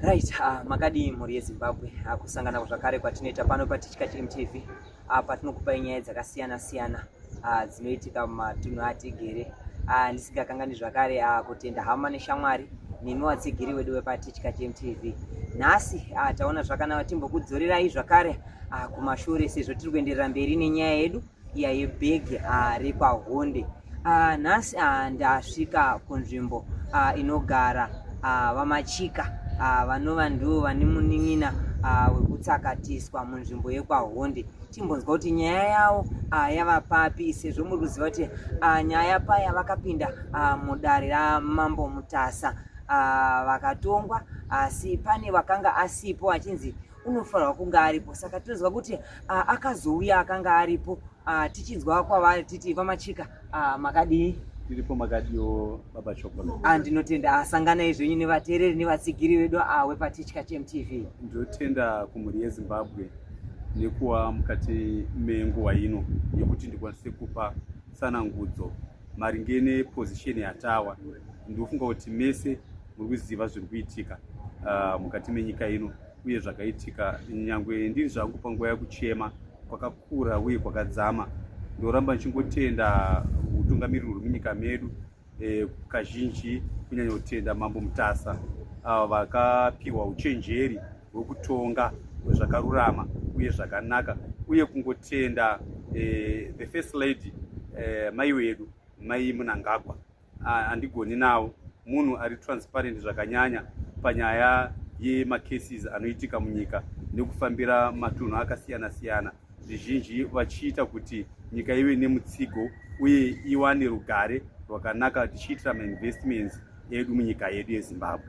Right, uh, makadii mhuri yeZimbabwe uh, ah, kusangana zvakare kwatinoita pano patichika chimtv uh, ah, patinokupai nyaya dzakasiyana siyana uh, dzinoitika mumatunhu atigere uh, ndisingakanganwi zvakare uh, kutenda hama neshamwari nemi watsigiri wedu wepatichika chimtv nhasi uh, taona zvakanaka timbokudzorerai zvakare uh, kumashure sezvo tiri kuenderera mberi nenyaya yedu iya yebhegi ah, rekwaHonde ah, nhasi ah, ndasvika kunzvimbo inogara vamachika vanova ndivo vane munin'ina wekutsakatiswa munzvimbo yekwaHonde timbonzwa kuti nyaya yavo yava papi sezvo muri kuziva kuti nyaya paya vakapinda mudare ramambo mutasa vakatongwa asi pane vakanga asipo achinzi unofanirwa kunge aripo saka tinonzwa kuti ah, akazouya akanga aripo ah, tichinzwa kwavari titi vamachika ah, makadii tiripo makadiwo baba chocolate ah, ndinotenda asanganai zvenyu nevateereri nevatsigiri vedu awe patichka chmtv ndinotenda kumhuri yezimbabwe nekuwa mukati menguva ino yekuti ndikwanise kupa tsanangudzo maringe nepozisheni yatawa ndinofunga kuti mese muri kuziva zviri kuitika ah, mukati menyika ino uye zvakaitika nyangwe ndiri zvangu panguva yakuchema kwakakura uye kwakadzama ndoramba ndichingotenda utungamiriri huri munyika medu eh, kazhinji kunyanya kutenda mambo mutasa avo vakapiwa uchenjeri hwekutonga zvakarurama uye zvakanaka uye kungotenda eh, the first lady eh, mai wedu mai munangagwa handigoni navo munhu ari transparent zvakanyanya panyaya yemacases anoitika munyika nekufambira matunhu akasiyana siyana zvizhinji vachiita kuti nyika ive nemutsigo uye iwane rugare rwakanaka tichiitira mainvestments edu munyika yedu yezimbabwe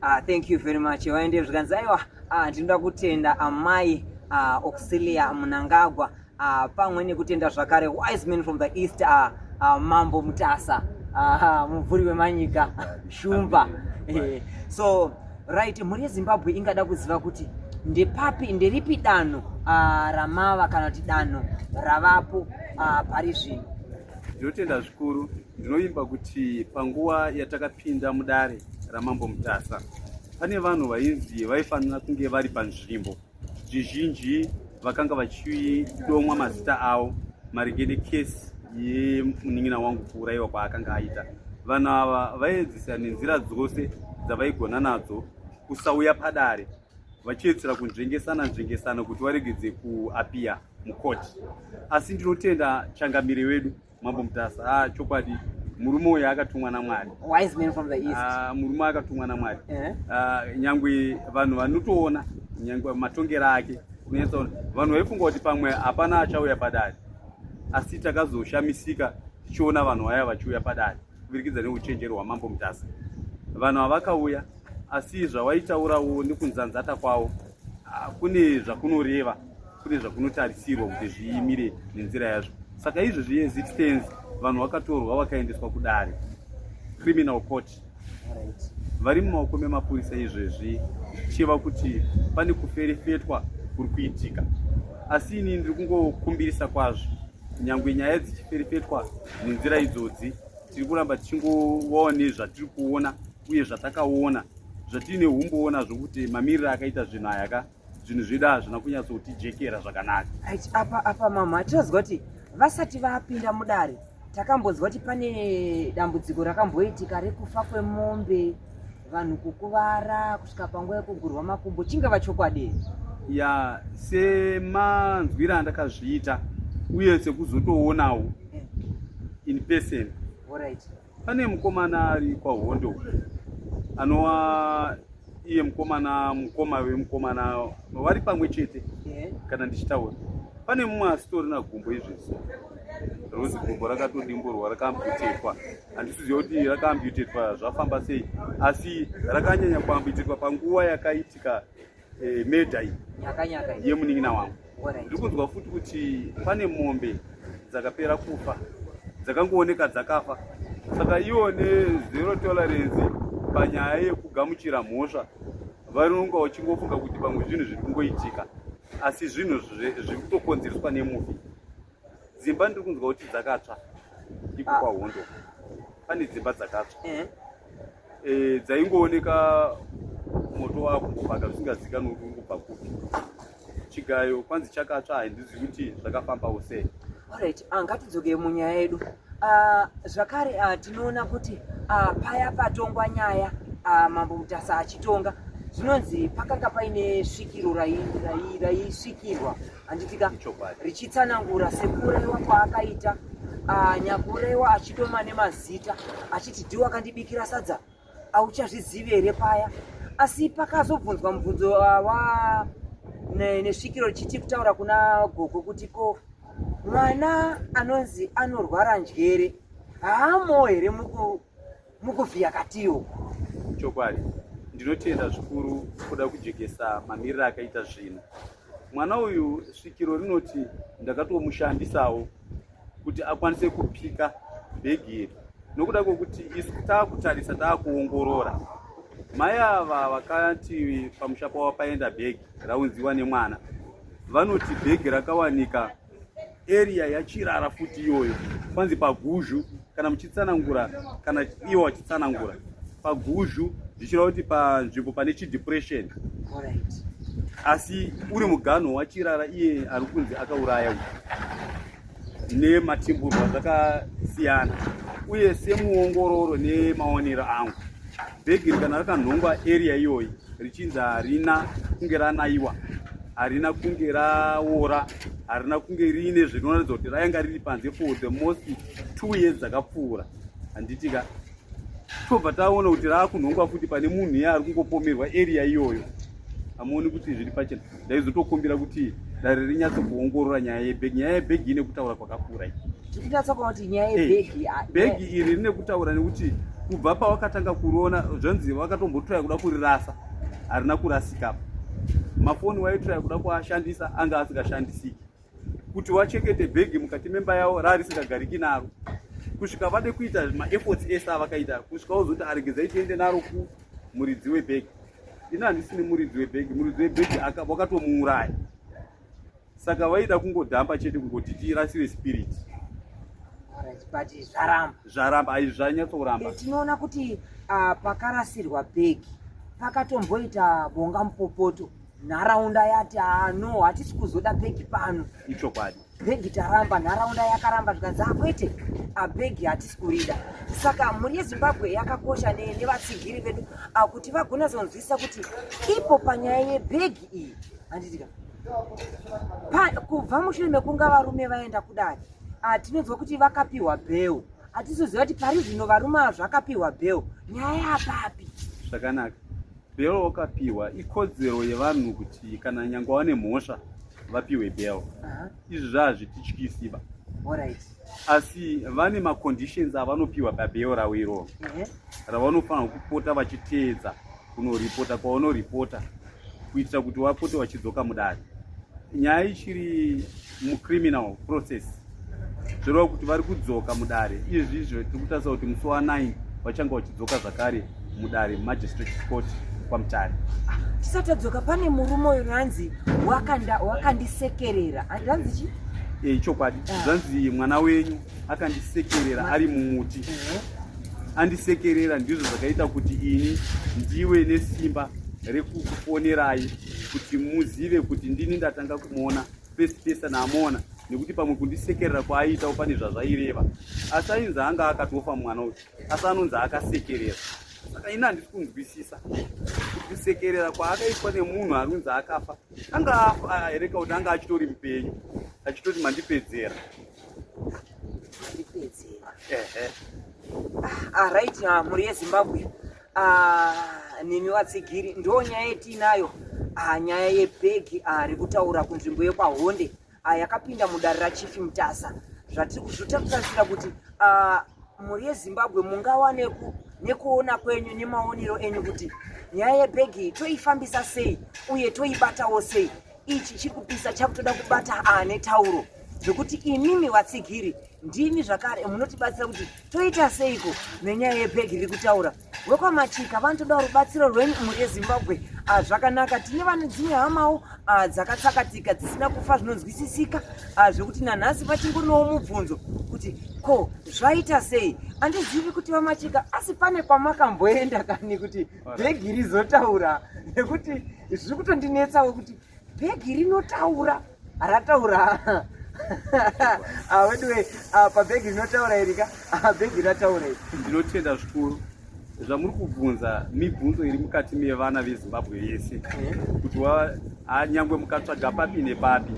ah, thank you very much vaende zvikanzi aiwa ah, ndinoda kutenda amai ah, auxilia munangagwa uh, pamwe nekutenda zvakare wise men from the east uh, uh, mambo mutasa uh, mubvuri wemanyika shumba eh, so right mhuri yezimbabwe ingada kuziva kuti ndepapi nderipi danho uh, ramava kana kuti danho ravapo uh, pari zvino ndinotenda zvikuru ndinovimba kuti panguva yatakapinda mudare ramambo mutasa pane vanhu vainzi vaifanira kunge vari panzvimbo zvizhinji vakanga vachidomwa mazita avo maringe nekesi yemunin'ina wangu kuurayiwa kwaakanga aita vanhu ava vaiedzisa nenzira dzose dzavaigona nadzo kusauya padare vachiedzisira kunzvengesana nzvengesana kuti varegedze kuapiya mukoti asi ndinotenda changamire wedu Mambo Mutasa, ah, chokwadi murume uyu akatumwa namwari wise man from the east uh, murume akatumwa namwari uh eh? -huh. uh, nyangwe vanhu vanotoona nyangwe matongero ake unetsaona vanhu vaifunga kuti pamwe hapana achauya padare asi takazoshamisika tichiona vanhu vaya vachiuya padare kuburikidza neuchenjeri hwamambo mutasa vanhu havakauya asi zvawaitaurawo nekunzanzata kwawo ah, kune zvakunoreva kune zvakunotarisirwa kuti zviimire nenzira yazvo saka izvo zviexistence vanhu vakatorwa vakaendeswa kudare criminal court vari mumaoko memapurisa izvezvi zvichiva kuti pane kuferefetwa kuri kuitika asi ini ndiri kungokumbirisa kwazvo Nyangwe nyaya dzichiferefetwa nenzira idzodzi, tiri kuramba tichingova nezvatiri kuona uye zvatakaona zvatiine umbowo nazvo kuti mamiriro akaita zvinhu aya ka zvinhu zvedu hazvina kunyatsotijekera zvakanaka apa apa mama tinonzwa kuti vasati vapinda mudare takambonzwa kuti pane dambudziko rakamboitika rekufa kwemombe vanhu kukuvara kusvika panguva yekugurwa makumbo chingava chokwadi ya semanzwira andakazviita uye sekuzotoonawo eh. in person right. pane mukomana ari kwahondo anova iye mukomana mukoma wemukomana vari pamwe chete yeah. kana ndichitaura pane mumwe asitorina gumbo izvezvo rozi gumbo rakatodimburwa rakambotekwa handisiziva kuti rakaambutetwa zvafamba sei asi rakanyanya kuambutetwa panguva yakaitika eh, medha iyi yemunin'ina wangu ndiri kunzwa futi kuti pane mombe dzakapera kufa dzakangooneka dzakafa saka iwo nezero tolerance panyaya yekugamuchira mhosva varinonga vachingofunga kuti pamwe zvinhu zviri kungoitika asi zvinhu zviri kutokonzereswa nemufi dzimba ndiri kunzwa kuti dzakatsva iko ah. kwahondo pane dzimba dzakatsva eh. eh, dzaingooneka moto wakungobhaka zvisingazikanwe kuti ungobva kupi chigayo kwanzi chakatsva handizivi kuti zvakafambawo sei orit ah, ngatidzoke munyaya yedu ah, zvakare ah, tinoona kuti paya patongwa nyaya mambo mutasa achitonga zvinonzi pakanga paine svikiro raisvikirwa handitika richitsanangura sekuuraiwa kwaakaita ah, nyakuuraiwa achidoma nemazita achiti ndiwo akandibikira sadza auchazvizivi here paya asi pakazobvunzwa mubvunzo ah, wa nesvikiro richiti kutaura kuna gogo kuti ko mwana anonzi anorwara njere haamoo here muku mukuvhiya katiwo chokwadi ndinotenda zvikuru kuda kujekesa mamiriro akaita zvinhu mwana uyu svikiro rinoti ndakatomushandisawo kuti akwanise kupika bhegi iri nokuda kwekuti isu taakutarisa taakuongorora mai ava vakati pamusha pavo paenda bhegi raunziwa nemwana vanoti bhegi rakawanika area yachirara futi iyoyo kwanzi paguzhu kana muchitsanangura kana iwo wachitsanangura paguzhu zvichireva kuti panzvimbo pane chidepression asi uri muganho wachirara iye ari kunzi akauraya nematimburwa zvakasiyana uye semuongororo nemaonero angu bhegi rikana rakanhongwa area iyoyi richinzi harina kunge ranayiwa harina kunge raora harina kunge riine zvinoratidza kuti rayanga riri panze for the most two years dzakapfuura handiti ka tobva taona kuti raakunhongwa futi pane munhu iye ari kungopomerwa area iyoyo hamuoni kuti zviri pachena ndaizotokumbira kuti dare rinyatso kuongorora nyaya yebhegi nyaya yebhegi ine kutaura kwakakura iyi tinyatsokuona kuti nyaya eh, yebhegi ah, bhegi iri rine kutaura nekuti kubva pawakatanga kuriona zvanzi wakatombotoya kuda kurirasa harina kurasika apa mafoni waitiraya kuda kuashandisa anga asingashandisiki kuti wachekete bhegi mukati memba yavo raarisisagariki naro kusvika vade kuita maefforts ese avakaita kusvika wozoti aregedzai tiende naro ku muridzi webhegi ini handisini muridzi webhegi muridzi webhegi wakatomuuraya saka vaida kungodhamba chete kungoti tirasiwe spirit but zvaramba zvaramba ai zvanyatsoramba eh, tinoona kuti ah, pakarasirwa bhegi pakatomboita bonga mupopoto nharaunda yati ah, no hatisi kuzoda bhegi pano ichokwadi bhegi taramba nharaunda yakaramba zvikanzi akwete ah, abhegi ah, hatisi kurida saka mhuri yezimbabwe yakakosha nevatsigiri vedu ah, kuti vagonazonzwisisa kuti ipo panyaya yebhegi iyi handitika kubva mushure mekunga varume vaenda kudare hatinonzwa kuti vakapiwa bheu hatizoziva kuti pari zvino varume ava zvakapiwa bheu nyaya yapapi zvakanaka bheu wakapiwa ikodzero yevanhu kuti kana nyangwa vane mhosva vapiwe bheu izvi zvaazvitityisiba asi vane maconditions avanopiwa pabheu ravo iroo ravanofanira kupota vachiteedza kunoripota kwaunoripota kuitira kuti wapote wachidzoka mudare nyaya ichiri mucriminal process zvoreva kuti vari kudzoka mudare izvizvo tiri kutarisa kuti musi wa9 vachange vachidzoka zvakare mudare magistrate court kwamutare tisati tadzoka pane murume uyu ranzi wakandisekerera ranzi chi eh, ichokwadi ah. zvanzi mwana wenyu akandisekerera ari mumuti andisekerera ndizvo zvakaita kuti ini ndiwe nesimba rekukufonerai kuti muzive kuti ndini ndatanga kumuona first person amuona nekuti pamwe kundisekerera kwaaiitawo pane zvazvaireva asi ainzi anga akatofa mwana uyu asi anonzi akasekerera saka ini handisi kunzwisisa kusekerera kwaakaitwa nemunhu anonzi akafa anga afa here kauti anga achitori mupenyu achitoti mandipedzera Ah, right ah, mhuri yezimbabwe ah, nemi vatsigiri ndo nyaya yetiinayo ah, nyaya yebhegi ah, rekutaura kunzvimbo yekwahonde ah, yakapinda mudare rachifi mutasa zvatiri kuzvita kutarisira kuti ah, mhuri yezimbabwe mungawa neku nekuona kwenyu nemaonero enyu kuti nyaya yebhegi toifambisa sei uye toibatawo sei ichi chiri kupisa chakutoda kubata ane tauro zvekuti imimi vatsigiri ndimi zvakare munotibatsira kuti toita seiko nenyaya yebhegi riri kutaura wekwamachika vanotoda rubatsiro rwenyu mhuri yezimbabwe ah, zvakanaka tine vane dzimwe hamawo ah, dzakatsakatika dzisina kufa zvinonzwisisika ah, zvekuti nanhasi vachingonowo mubvunzo kuti ko zvaita sei handizivi kuti vamachika asi pane kwamakamboenda kani kuti bhegi rizotaura nekuti zviri kutondinetsawo kuti bhegi rinotaura rataura weduwe pabhegi rinotaura iri ka bhegi rataura iri ndinotenda zvikuru zvamuri kubvunza mibvunzo iri mukati mevana vezimbabwe yese eh? kuti nyangwe mukatsvaga papi nepapi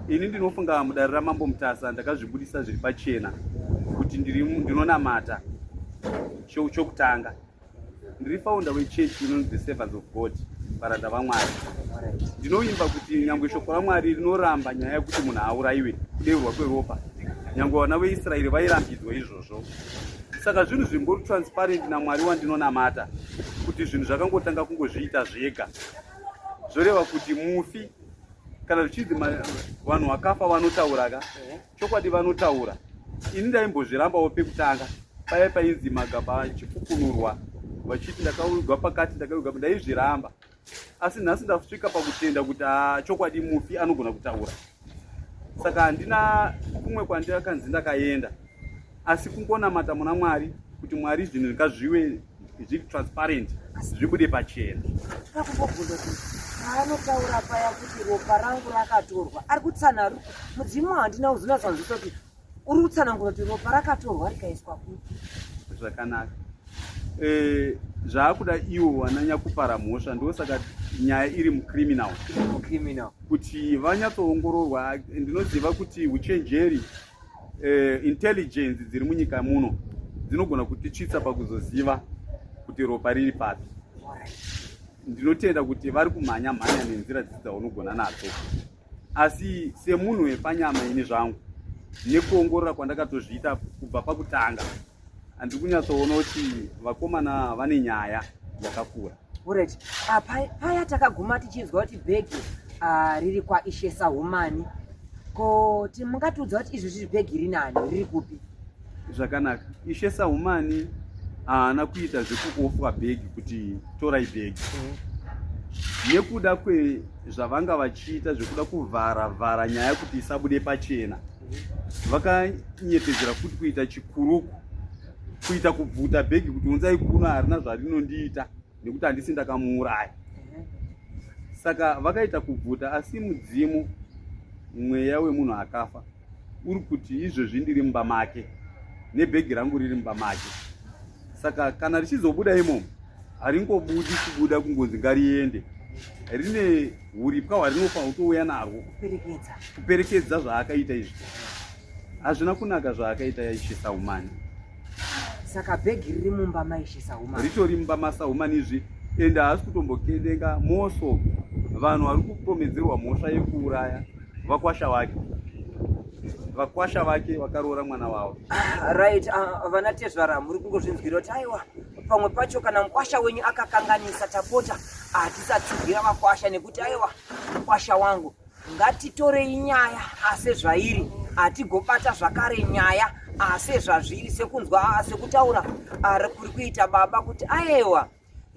ini ndinofunga mudare ramambo mutasa ndakazvibudisa zviri pachena kuti ndinonamata chokutanga ndiri founder wechurch inonzi the servants of god varanda vamwari ndinovimba kuti nyangwe shoko ramwari rinoramba nyaya yekuti munhu aurayiwe kudeurwa kweropa nyangwe vana veisraeri vairambidzwa izvozvo saka zvinhu zvimbori transparent namwari wandinonamata kuti zvinhu zvakangotanga kungozviita zvega zvoreva kuti mufi kana zvichinzi vanhu vakafa vanotauraka Chokwadi vanotaura. Ini ndaimbozvirambawo pekutanga paya painzi magaba achifukunurwa vachiti ndakaugwa pakati ndakaugwa ndaizviramba asi nhasi ndasvika pakutenda kuti ah, chokwadi mufi anogona kutaura saka handina kumwe kwandakanzi ndakaenda asi kungonamata muna mwari kuti mwari zvinhu ngazviwe zviri transparent zvibude pachena akungobvunza kuti paanotaura paya kuti ropa rangu rakatorwa ari kutsanaro mudzimu wandina uzvinatsanzisa kuti uri kutsanangura kuti ropa rakatorwa rikaiswa kupi zvakanaka eh, zvaakuda iwo wananyakupara mhosva ndo saka nyaya iri mucriminal kuti vanyatsoongororwa ndinoziva kuti uchenjeri eh, intelligence dziri munyika muno dzinogona kutitsvitsa pakuzoziva kuti ropa riri papi ndinotenda kuti vari kumhanya mhanya nenzira dzidzi dzaunogona nadzo asi semunhu wepanyama ini zvangu nekuongorora kwandakatozviita kubva pakutanga handiri kunyatsoona kuti vakomana vane nyaya yakakura Alright. Ah, paya, paya takaguma tichinzwa kuti bhegi ah, riri kwaishe sahumani ko ti mungatiudza kuti izvo zviri bhegi rinani riri kupi zvakanaka ishe sahumani haana kuita zvekuofwa bhegi kuti torai bhegi nekuda kwezvavanga vachiita zvekuda kuvhara vhara nyaya kuti isabude pachena vakanyepedzera futi kuita chikuruku kuita kubvuta bhegi kuti unzai kuno harina zvarinondiita nekuti handisi ndakamuuraya saka vakaita kubvuta asi mudzimu mweya wemunhu akafa uri kuti izvezvi ndiri mumba make nebhegi rangu riri mumba make saka kana richizobuda imomo haringobudi kubuda kungonzi ngariende rine uripwa hwarinofa utouya narwo kuperekedza zvaakaita izvi Hazvina kunaka zvaakaita yaishisa humani. Saka bhegi riri mumba maishisa humani. Ritori mumba masa humani izvi ende haasi kutombokendenga moso vanhu vari kupomedzerwa mhosva yekuuraya vakwasha vake vakwasha vake vakaroora mwana wavo ah, right ah, vana uh, tezvara muri kungozvinzwira kuti aiwa pamwe pacho kana mukwasha wenyu akakanganisa tapota hatisatsigira ah, vakwasha nekuti aiwa mukwasha wangu ngatitorei nyaya ase zvairi hatigobata zvakare nyaya ase zvazviri sekunzwa sekutaura ari kuri kuita baba kuti ayewa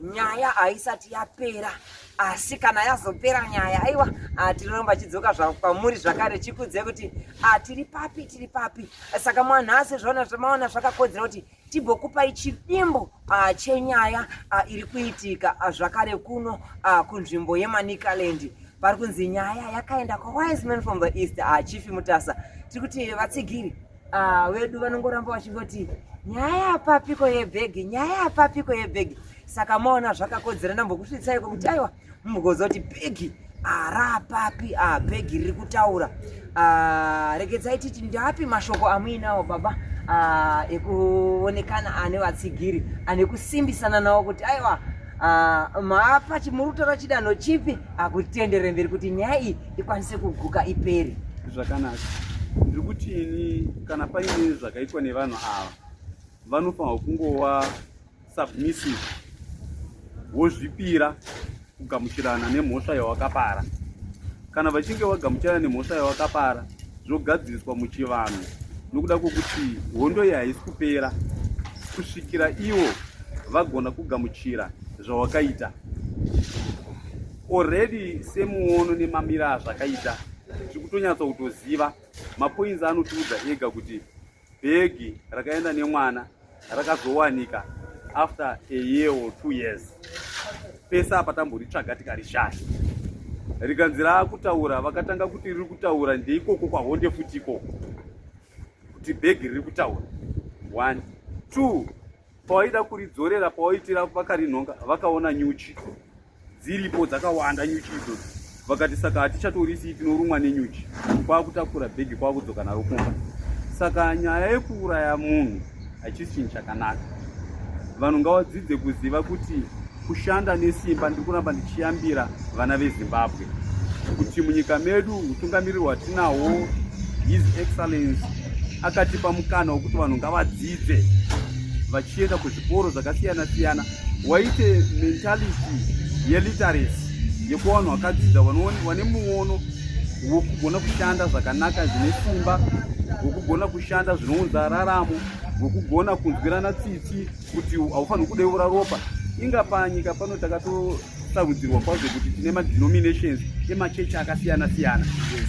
nyaya haisati yapera asi kana yazopera nyaya aiwa atiromba chidzoka kwamuri zvakare chikudze kuti atiri papi tiri papi saka mwanhasi zvaona zvamaona zvakakodzera kuti tibokupai chidimbo uh, chenyaya uh, iri kuitika uh, zvakare kuno uh, kunzvimbo yemanicaland pari kunzi nyaya yakaenda kwawise man from the east uh, chief mutasa tiri kuti vatsigiri uh, vedu vanongoramba vachingoti nyaya yapapiko yebhegi nyaya yapapiko yebhegi saka maona zvakakodzera ndambokusvitsai kwekuti aiwa mugozoti bhegi arapapi ah, bhegi riri kutaura ah, regedzai titi ndapi mashoko amuinawo baba ah, ekuonekana ane vatsigiri ane kusimbisana nawo kuti aiwa maapa chimurutora chidanho chipi akutendere mberi kuti nyaya iyi ikwanise kuguka iperi zvakanaka ndiri kuti ini kana paine zvakaitwa nevanhu ava vanofanirwa kungova submissive wozvipira kugamuchirana nemhosva yawakapara kana vachinge vagamuchirana nemhosva yawakapara zvogadziriswa muchivanhu nokuda kwokuti hondo iyi haisi kupera kusvikira ivo vagona kugamuchira zvawakaita already semuono nemamira azvakaita tiri kutonyatsa kutoziva mapoinzi anotiudza ega kuti bhegi rakaenda nemwana rakazowanika after a year or two years pese apa tamboritsvaga tikarishaya rikanzi raakutaura vakatanga kuti riri kutaura ndeikoko kwahonde futi ikoko kuti bhegi riri kutaura one two Pawaida kuridzorera pawaitira vakarinhonga vakaona nyuchi dziripo dzakawanda nyuchi idzodzo vakati saka hatichatorisii tinorumwa nenyuchi kwakutakura bhegi kwakudzoka naro kumba saka nyaya yekuuraya munhu hachisi chinhu chakanaka vanhu ngavadzidze kuziva kuti kushanda nesimba ndiri kuramba ndichiyambira vana vezimbabwe kuti munyika medu utungamiriri hwatinahwo his excellence akatipa mukana wekuti vanhu ngavadzidze vachienda kuzvikoro zvakasiyana siyana waite mentality yeliteracy yekuva vanhu vakadzidza vane muono wekugona kushanda zvakanaka zvine simba wekugona kushanda zvinounza raramo wekugona kunzwirana tsitsi kuti haufanirwi kudeura ropa inga panyika pano takatosarudzirwa kwazvo kuti tine madenominations emachechi akasiyana siyana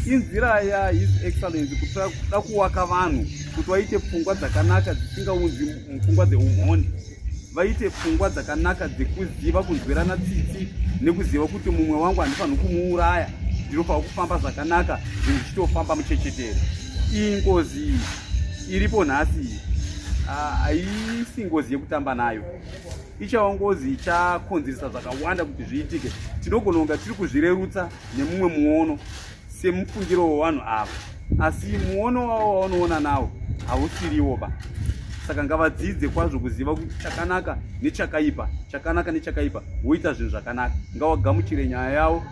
inzira yahis excellence kuti da kuwaka vanhu kuti vaite pfungwa dzakanaka dzisingaunzi pfungwa dzeumhondi vaite pfungwa dzakanaka dzekuziva kunzwirana tsitsi nekuziva kuti mumwe wangu handifanirwi kumuuraya ndinofanirwa kufamba zvakanaka zvinhu zvichitofamba muchechetere iyi ngozi iyi iripo nhasi iyi haisi ngozi yekutamba nayo ichawa ngozi ichakonzeresa zvakawanda kuti zviitike tinogona kunga tiri kuzvirerutsa nemumwe muono semufungiro wevanhu ava asi muono wavo wavanoona nawo hausiriwo ba saka ngavadzidze kwazvo kuziva kuti chakanaka nechakaipa chakanaka nechakaipa woita zvinhu zvakanaka ngawagamuchire nyaya yavo